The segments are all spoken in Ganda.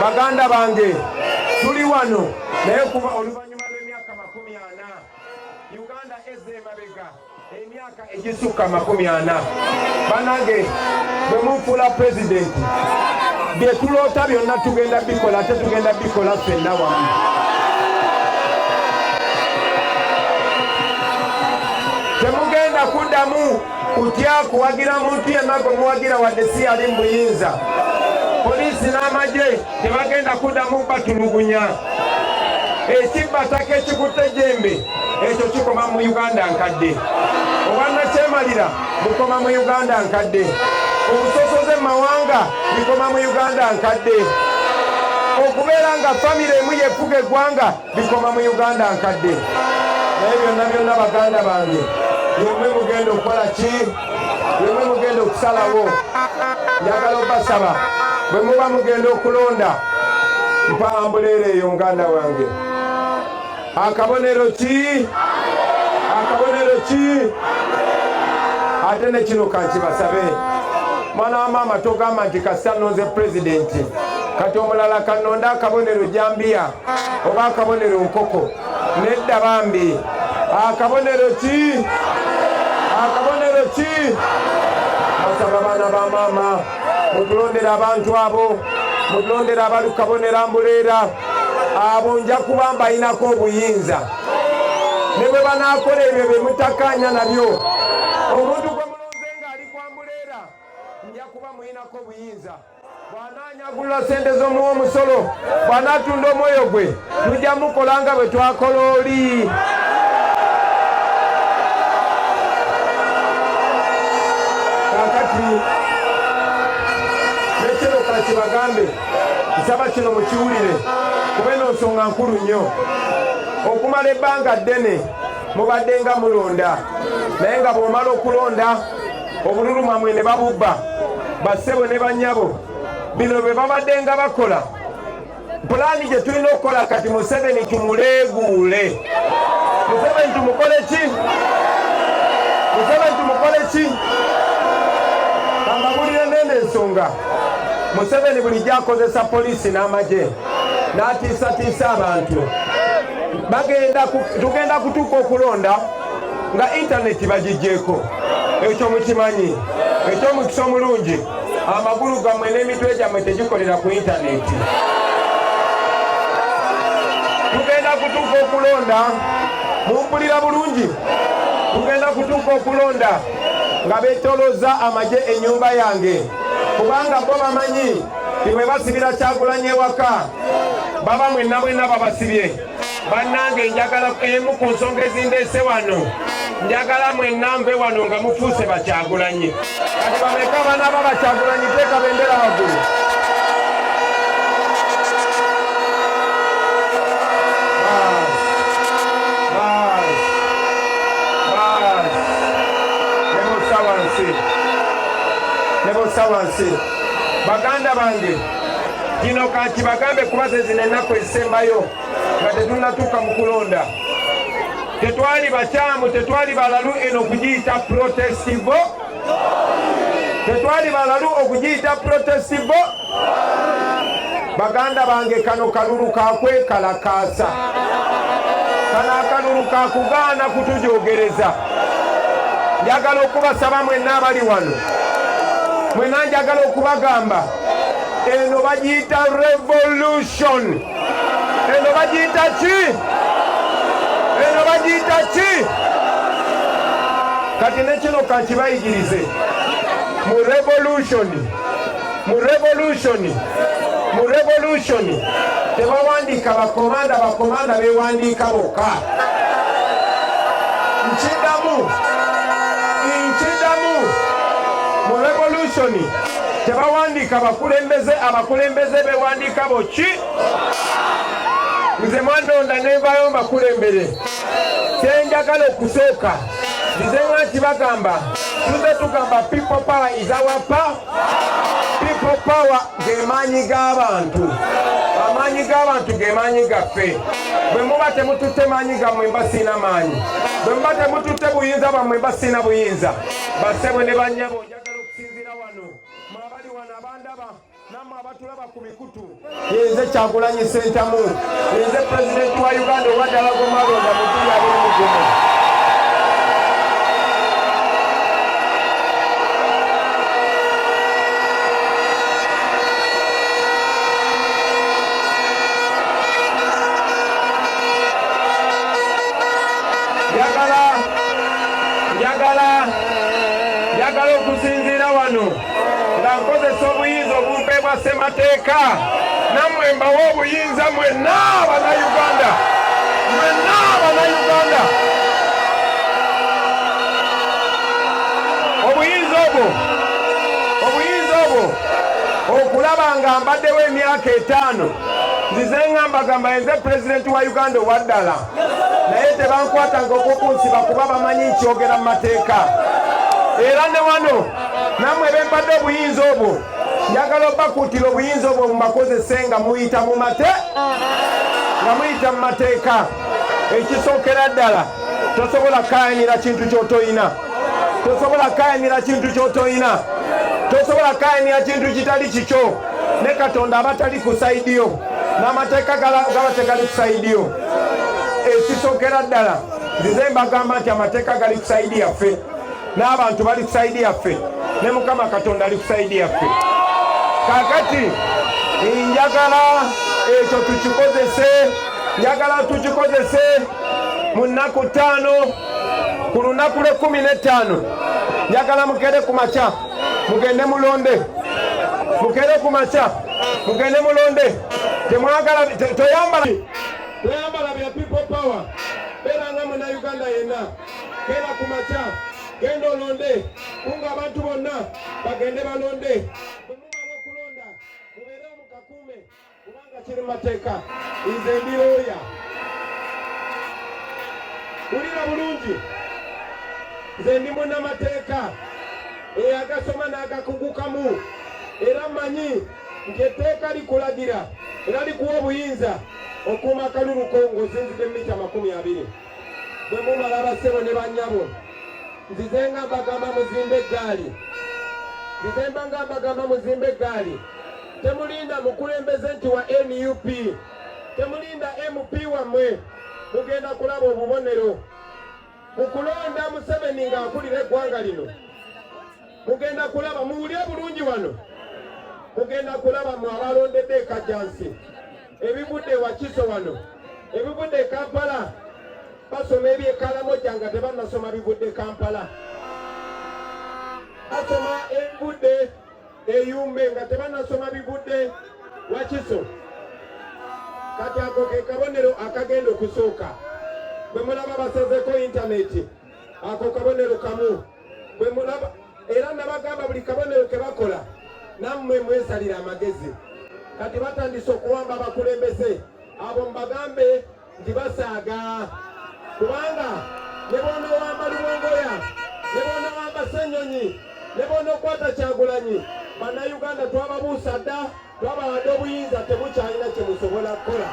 baganda bange tuli wano naye kuba oluvannyuma lw'emyaka makumi ana uganda eza emabega emyaka egisukka makumi ana banange bwe munfuula pulezidenti bye tuloota byonna tugenda bikola ate tugenda bikola ffenna wamu temugenda kuddamu kutya kuwagira muntu yenna gwe muwagira wadde si yali mu buyinza poliisi n'amagye tebagenda kuddamu batulugunya ekibbataka ekikutte jembe ekyo kikoma mu uganda nkadde obwannakyemalira bukoma mu uganda nkadde obusosoze mu mawanga bikoma mu uganda nkadde okubeera nga famire emu yefuga eggwanga bikoma mu uganda nkadde naye byonna byonna baganda bange yemwe mugenda okukola ki yemwe mugenda okusalawo njagala obasaba bwe muba mugenda okulonda mpa ambuleera eyo muganda wange akabonero ki akabonero ki ate nekino kankibasabe mwana wa maama togamba nti kasita nonze pulezidenti kati omulala kanonda akabonero jambiya oba akabonero nkoko nedda bambi akabonero ki akabonero ki basaba baana ba maama mutulondera abantu abo mutulondera abali kabonera mbuleera abo nja kuba mbayinako obuyinza ne bwe banaakola ebyo bye mutakkaanya nabyo omuntu gwe mulonze ng'ali kwa mbuleera nja kuba muyinako obuyinza bw'anaanyagulula ssente z'omuwa omusolo bw'anaatunda omwoyo gwe tujja mukola nga bwe twakola oli kakati nekino kakibagambe nsaba kino mukiwulire kuba eno nsonga nkulu nnyo okumala ebbanga ddene mubadde nga mulonda naye nga bw'omala okulonda obululu mwamwe ne babubba bassebo ne banyabo bino bwe babadde nga bakola pulaani gye tulina okukola kati museveni tumuleeguule museveni tumukole ki museveni tumukole ki amabulire nene ensonga museveni bulijjo akozesa poliisi n'amagye n'atiisatiisa abantu tugenda kutuuka okulonda nga intaneti bagigyeko ekyo mukimanyi ekyomukisa omulungi amagulu gammwe n'emitwe gyammwe tegikolera ku intaneti tugenda kutuuka okulonda mumpulira bulungi tugenda kutuuka okulonda nga betoloza amagye enyumba yange kubanga bo bamanyi timwe basibira kyakulanya ewaka baba mwenna mwenna babasibye bannange njagala emu ku nsonga ezindeese wano njagala mwenna nve wano nga mufuuse bakyagulanyi kati bameka abaana ba bakyagulanyi teeka bendera waggulu nebusa wansi baganda bange kino kakibagambe kuba zezino ennaku ezisembayo nga tetunatuuka mu kulonda tetwali bakyamu tetwali balalu eno okugiyita protestivo tetwali balalu okugiyita protestivo baganda bange kano kalulu kakwekalakaasa kano akalulu kakugaana kutujogereza njagala okubasaba mwenna abali wano mwenna njagala okubagamba eno bagiyita revolution eno bagiyita ki eno bagiyita ki kati nekino kakibayigirize mu revolution mu revolution mu revolution tebawandiika bakomanda bakomanda bewandiika bokka nkidamu nkidamu mu revolution tebawandiika bakulembeze abakulembeze bewandiika boki nze mwandonda nenvayo mbakulembere kyenjagala okusooka nze nga nti bagamba tuze tugamba people power is our power people power gemaanyi g'abantu amaanyi g'abantu gemaanyi gaffe bwe muba temututte maanyi gammwe mba siina maanyi bwe muba temututte buyinza bwammwe mba siina buyinza basebwe ne banyabo Njagala okusinziira wano mwe abali wano abandaba namwe abatulaba ku mikutu yenze kyagulanyi sentamu yenze pulezidenti wa uganda owadala gomalonda mutuli abiri mugumu njagala okusinziira wano nga nkozesa obuyinza obumpe bwa ssemateeka nammwe mbawa obuyinza mwenna abanauganda mwenna abanauganda obuyinza obwo obuyinza obwo okulaba nga mbaddewo emyaka etaano nzize ngambagamba yenze pulezidenti wa uganda owaddala naye tebankwatanga okukunsiba kuba bamanyi nkyogera mu mateeka era ne wano namwe bempadde obuyinza obwo njagala obakuutira obuyinza obwo mubakozese nga muyita mu mate nga muyita mu mateeka ekisookera ddala tosobola kayanira kintu kyotoyina tosobola kayanira kintu kyotoyina tosobola kayanira kintu kitali kikyo ne katonda abatali ku saidiyo n'amateeka gaba tegali ku sayidi yo ekisokera ddala nzize mbagamba nti amateeka gali ku sayidi yaffe n'abantu bali ku sayidi yaffe ne mukama katonda ali ku sayidi yaffe kakati njagala ekyo tukikozese njagala tukikozese mu nnaku ttaano ku lunaku lw'ekkumi n'ettaano njagala mugere ku makya mugende mulonde mukere ku makya mugende mulonde temwagala toyambala toyambala bya people power beera nga muna uganda yenna kera ku makya genda olonde kunga abantu bonna bagende balonde kubanga kiri mateeka nze ndi looya wulira bulungi nze ndi munnamateeka eyagasoma n'agakugukamu era manyi nti etteeka likulagira era likuwa obuyinza okuuma akalulu ko ng'osinzidde mu mita amakumi abiri bwe mumala bassebo ne bannyabo nzize nga mbagamba muzimbe eggaali nzize mba nga mbagamba muzimbe eggaali temulinda mukulembeze nti wa nup temulinda mp wammwe mugenda kulaba obubonero mu kulonda museveni ng'akulira eggwanga lino mugenda kulaba muwulye bulungi wano mugenda kulaba mu abalondedde ekajjansi ebivudde wakiso wano ebivudde e kampala basoma ebyekalamo gyanga tebanasoma bivudde kampala basoma ebivudde eyumbe nga tebanasoma bigudde wakiso kati ako ke kabonero akagenda okusooka bwe mulaba basazeko intaneti ako kabonero kamu bwe mulaba era nabagamba buli kabonero ke bakola nammwe mwesalira amagezi kati batandise okuwamba abakulembeze abo mbagambe nti basaaga kubanga ne bwonowamba luwongoya ne bwonowamba senyonyi ne bwonokwata kyagulanyi bannayuganda twababuusa dda twabawadde obuyinza temukyalina kyemusobola kukola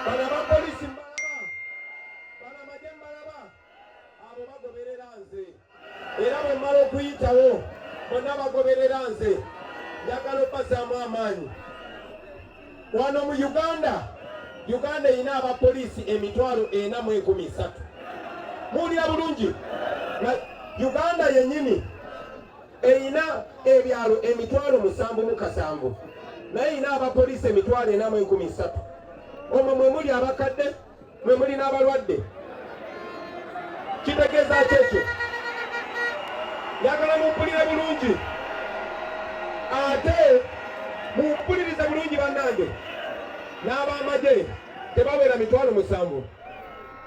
bano aba polisi mbalaba bano amagye mbalaba abo bagoberera nze era bwe mmala okuyitawo bonna bagoberera nze njagala obbazaamu amaanyi wano mu uganda uganda erina abapoliisi emitwalo ena mu enkumi ssatu muwulira bulungi uganda yennyini erina ebyalo emitwalo musanvu mu kasanvu naye erina abapoliisi emitwalo ena mu enkumi ssatu omwo mwe muli abakadde mwe muli n'abalwadde kitegeeza ki ekyo yagala mumpulire bulungi ate mumpulirize bulungi bannange n'ab'amagye tebawera mitwalo musanvu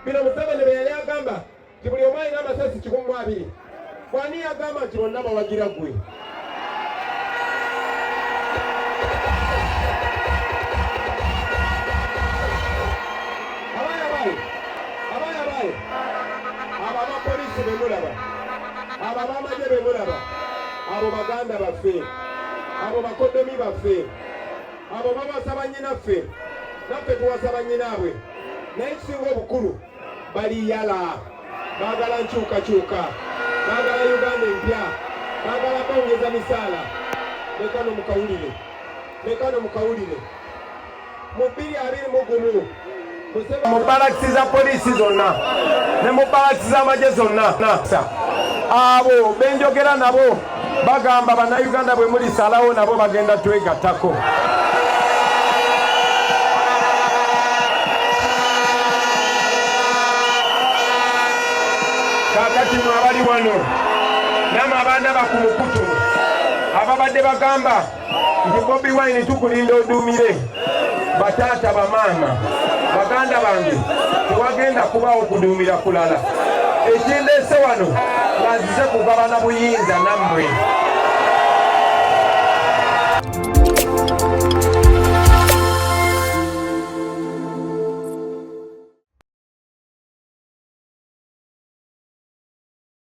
bino museveni bye yali agamba nti buli omu alina amasasi kikumi mu abiri kwani yagamba nti bonna bawagira gwe abaana baye abaana baye abo abapolisi bemulaba abo abamaje bemulaba abo baganda baffe abo bakodomi baffe abo babasaba nyinaffe naffe tuwasaba nyinaabwe naye kisinga obukulu bali yala bagala nkyukakyuka bagala uganda empya bagala bongeza misaala lekano mukawulire lekano mukawulire mu bbiri abiri mu gumu mu balakisi za poliisi zonna ne mu balakisi z'amagye zonna abo benjogera nabo bagamba bannayuganda bwe mulisalawo nabo bagenda twegattako kakati mwe abali wano namwe abaana bakumukutu ababadde bagamba nti Bobi Wine tukulinda oduumire bataata bamaama baganda bange tewagenda kubaawo kuduumira kulala ekindeese wano ngazize kugabana buyinza nammwe